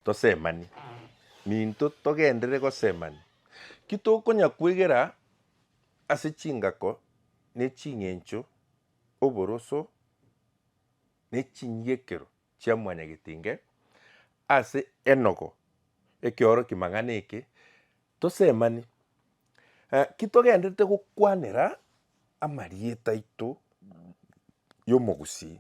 Tosemani. Ninto togenderere gosemani? Ki tokonya kwegera ase chingako ne ching'encho, oboroso, ne chinyiekero chia mwanyagetenge ase enogo ekeoroki mang'ana eke? Tosemani. Ki togenderete gokwanera amarieta aito y'omogusii?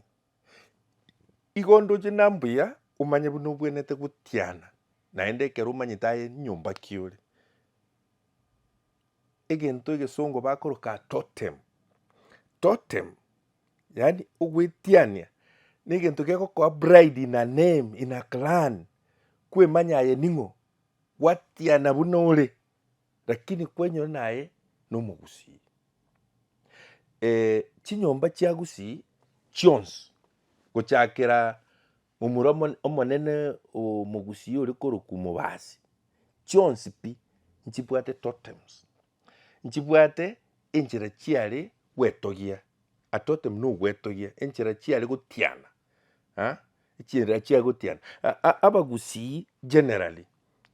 Igo onde oche na mbuya omanye buna obwenerete gotiana, naende ekero omanyete aye nyomba ki ore. Egento egesongo bakoroka totem, totem yaani ogoetiania na egento kegokoa pride in a name, in a clan, kwemanya aye ning'o, gwatiana buna ore. Lakini kwenyora naye nomogusii. Ee, chinyomba chi'agusii chionsi, gochakera momura omo- omonene omogusii ore korokwa omobasi, chionsi pi nchibwate totems, nchibwate enchera chiare gwetogia, a totem na ogwetogia, enchera chiare gotiana. ah echinera chia gotiana abagusii generally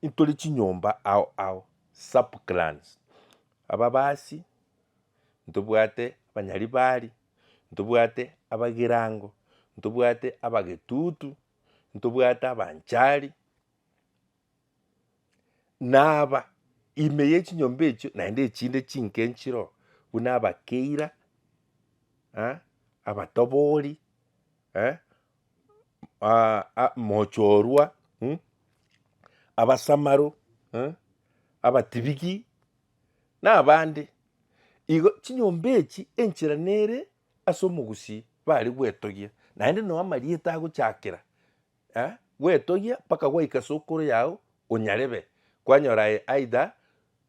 intore chinyomba ao ao sub clans ababasi ntobwate abanyaribari ntobwate abagirango ntobwate abagetutu ntobwate abanchari. Naaba, ime ye chinyomba echio naende echinde chinke nchiroo, buna abakeira, eh, abatobori, eh, mochorwa, mmh, abasamaro, eh, abatibiki, na abande. Igo chinyomba echi enchera nere ase omogusii bare gwetogia, naende noo amarieta agochakera. Eh, gwetogia mpaka gwaika sokoro yao onyarebe, kwanyora aye aidha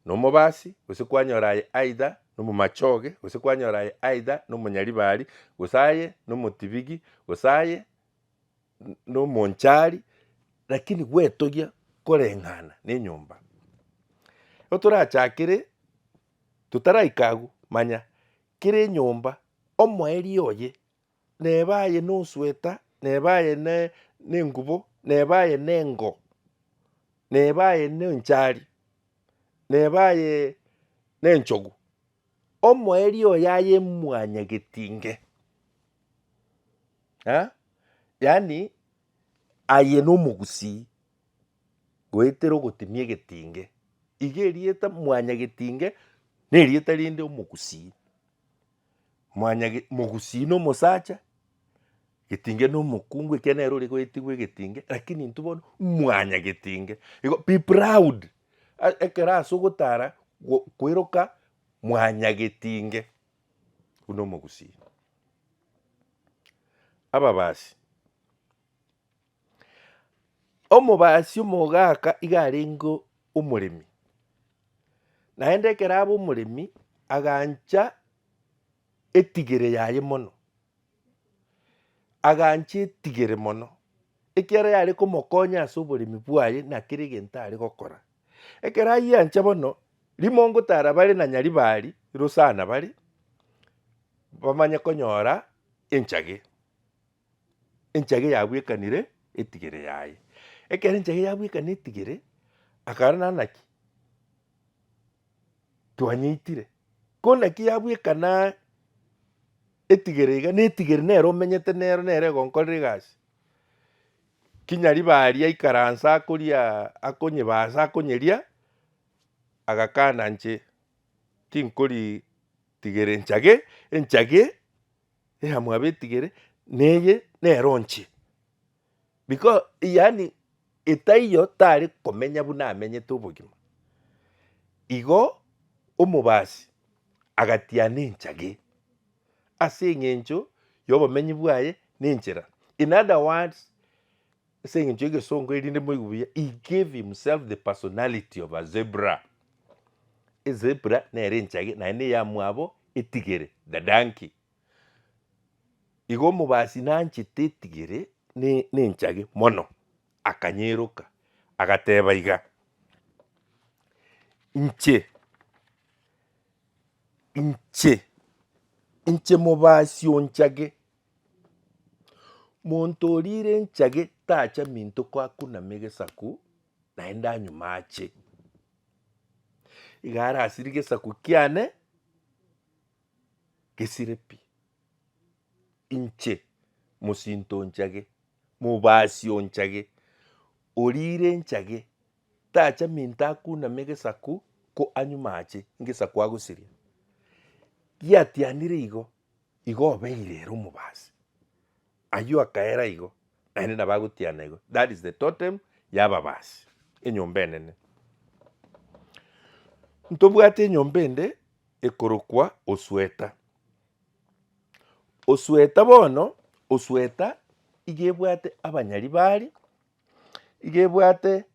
nomobasi, gose kwanyora aye aidha nomomachoge, gose kwanyora aye aidha nomonyaribari, gose aye nomotibigi, gose aye nomonchari, lakini gwetogia koreng'ana nenyomba. Ekero torachakere, totaraika agwo, manya kera enyomba omoerio oye neba aye nosweta, neba aye nengubo, neba aye nengo, neba aye nenchari, neba aye nenchogu, omoerio oyo aye mwanyagetinge eh, yaani aye nomogusii goetera ogotimia egetinge, iga erieta mwanyagetinge nerieta rinde omogusii. Mwanyaga e- mogusii na omosacha, getinge na omokungu, ekiagera nere ore goetigwa egetinge, lakini intwe bono mwanyaga getinge. Igo be proud, a- ekero ase ogotara go- koiroka mwanyaga getinge, buna omogusii. Ababasi. Omobaasi omogaaka iga arenge omoremi, naende ekero abe omoremi agancha etigere yaye mono, agancha etigere mono ekiagera yare komokonya ase oboremi bwaye na kera egento are gokora. Ekero ayiancha bono, rimongo tara bare na nyaribari rosana bare, bamanye konyora enchage. enchage yabwekanire etigere yaye. Ekero enchage yabwekanire etigere, akara na naki twanyeitire, ko naki yabwekana etigere iga, na etigere nere omenyete nero nere egonkorera egasi. Kinya riba aria aikaranse akoria akonyebaa ase akonyeria, agakana nche tinkorii tigere enchage, enchage. Eha mwabetigere neye nero nche because yaani etaiyo tare komenya buna amenyete obogima. Igo omobasi agatiana enchage ase eng'encho yobomenyi bwaye nenchera in other words. Ase engencho y'egesongo, erinde moigwe buya, he gave himself the personality of a zebra. Ezebra nere enchage naende eyamwabo etigere, the donkey. Igo omobasi nanchete etigere ne nenchage mono, akanyeroka agateba iga, inche inche inche mobasi onchage Monto oriire enchage tacha minto koakunama egesaku naende anyume ache. Iga arasire gesaku kiane gesire pi. Inche mosinto onchage, mobasi onchage, oriire enchage tacha minto akuname egesaku ko anyume ache, egesaku agosirie. Giatianire igo Igo obeire ere omobaasi. Ayio akaera igo, naende nabo agotiana igo. That is the totem y'ababaasi, enyomba enene. Ntobwate enyomba ende ekorokwa Osweta. Osweta bono, Osweta iga ebwate abanyari bari, iga ebwate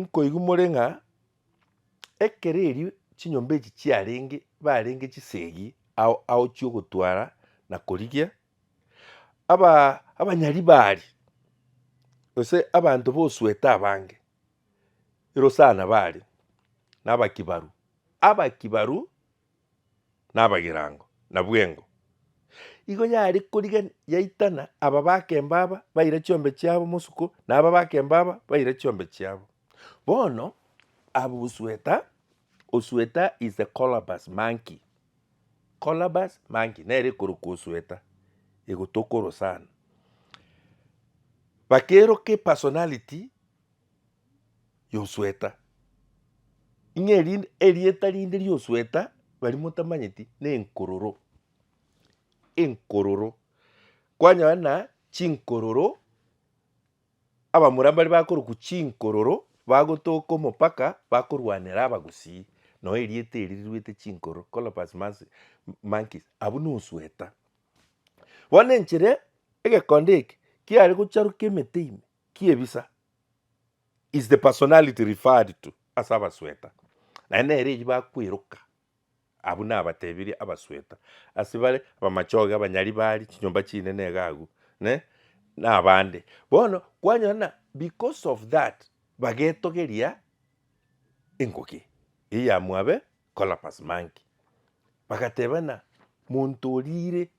Nkoigwa more ng'a ekero erio chinyomba echi chiarenge barenge chisegi ao ao chi'ogotwara na korigia, aba abanyaribari gose abanto b'osuete abange erosana bare na abakibaru, abakibaru. nabagirango na bwengo. Igo yare korigia yaitana aba bakemba aba baire chiombe chiabo mosuko, na aba bakemba aba baire chiombe chiabo. Bono abwo gosweta osweta is a colobus monkey, colobus monkey nere ekorokwa osweta egotokoro sana. Bakeroke personality. y'osweta, ing'e erinde erieta rinde ri'osweta baria motamanyeti na enkororo, enkororo. Kwanyora na chinkororo, abamura mbaria bakorokwa chinkororo bagotoka omopaka bakorwanera abagusii, noo erieta erio riruete chinkororo colobus mansi monkeys abwo na osweta. Bono enchera egekonda eke kiare gocharuka emete ime. ki'ebisa is the personality referred to ase abasweta, naende nere eyio bakweroka. Abwo nabatebirie abasweta ase bare abamachoge, abanyaribari, chinyomba chinene iga agwo, ne nabande. Bono kwanyora ng'a because of that bagetogeria eng'oki eyio ya mwabe Collapus Monkey, bagateba ng'a monto oriire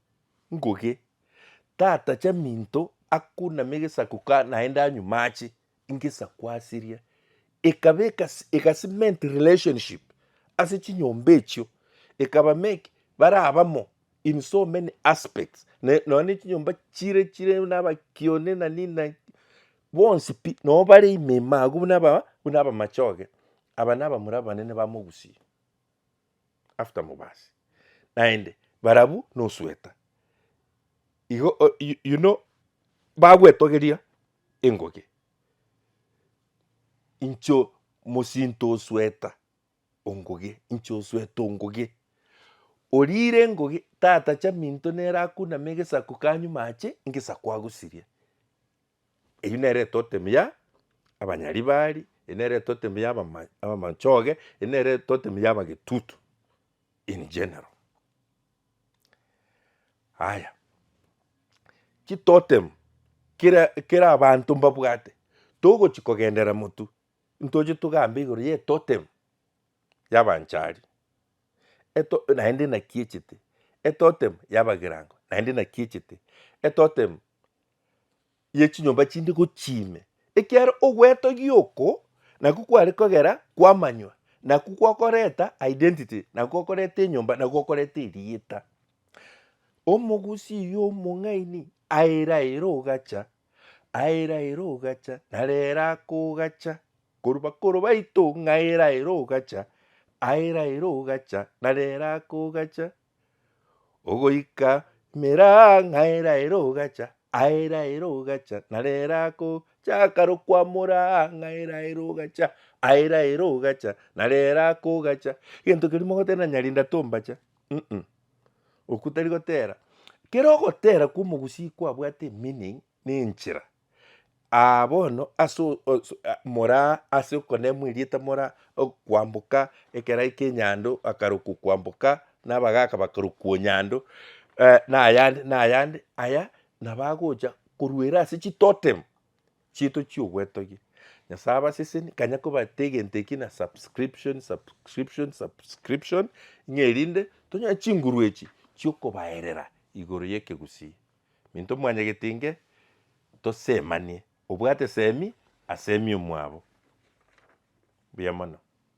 Nguge, Tata, chaminto akuname egesaku ka naende anyume ache ingesaku asiria. Ekaba eka eka-cement relationship ase chinyomba echio, ekaba make bare abamo in so many aspects, ne nonya ne chinyomba chire chire buna abakione na nini na nini, bonsi pi nabo bare ime ime agwo buna aba buna abamachoge, aba nabamura abanene ba mogusii. after mobasi naende barabwo nosweta igo you know bagwetogeria engoge incho mosinto osweta ongoge inche oswete ongoge orire engoge tata chaminto nere akuname egesaku kanywa amache egesaku agosiria. Eyio nere etotemi ya abanyaribari, eyio nere etotemi ya abama abamanchoge, eyio nere etotemi ya abagetutu in general. Haya, chitotemi kera kera abanto mbabwate, togochi kogendera motwe ntoche togambe igoro ya etotemi ya abanchari, eto naende naki echete, etotemi ya abagirango naende naki echete, etotemi yechinyomba chinde gochia ime, ekiagera ogwetogia oko nakwo kware kogera kwamanywa, nakwo kwakoreta identity, nakwo kwakoreta enyomba, nakwo kwakoreta erieta. Omogusii oyio omong'aini aira aira ogacha, aira aira ogacha, narere akogacha korwa bakoro baito ng'a aira aira ogacha, aira aira ogacha, narere akogacha, Ogoika mera ng'aera ere ogacha, aera ere ogacha, na rera akochaka rokwamora ng'aera ere ogacha, aera ere ogacha, na rera akogacha. Gento keria mogotera nyarinda tombacha mm okwo tari gotera. Kera ogotera kwa omogusii kwabwate meaning na enchera Aa bono ase o- o- so- a- moraa ase okonemwa erieta moraa ok- kwamboka ekerai ki'enyando akarokwa kwamboka na abagaka bakarokwa nyando na ayande na ayande aya nabo agocha koruera ase chitotem chiaito chi'ogwetogia. Nyasaye abasesenie kanya kobate egento ekio na subscription subscription subscription ng'a erinde tonyore chinguru echi chiokobaerera igoro y'ekegusii. Minto mwanyagete inge tosemanie, obwate semi asemi omwabo. Mbuya mono.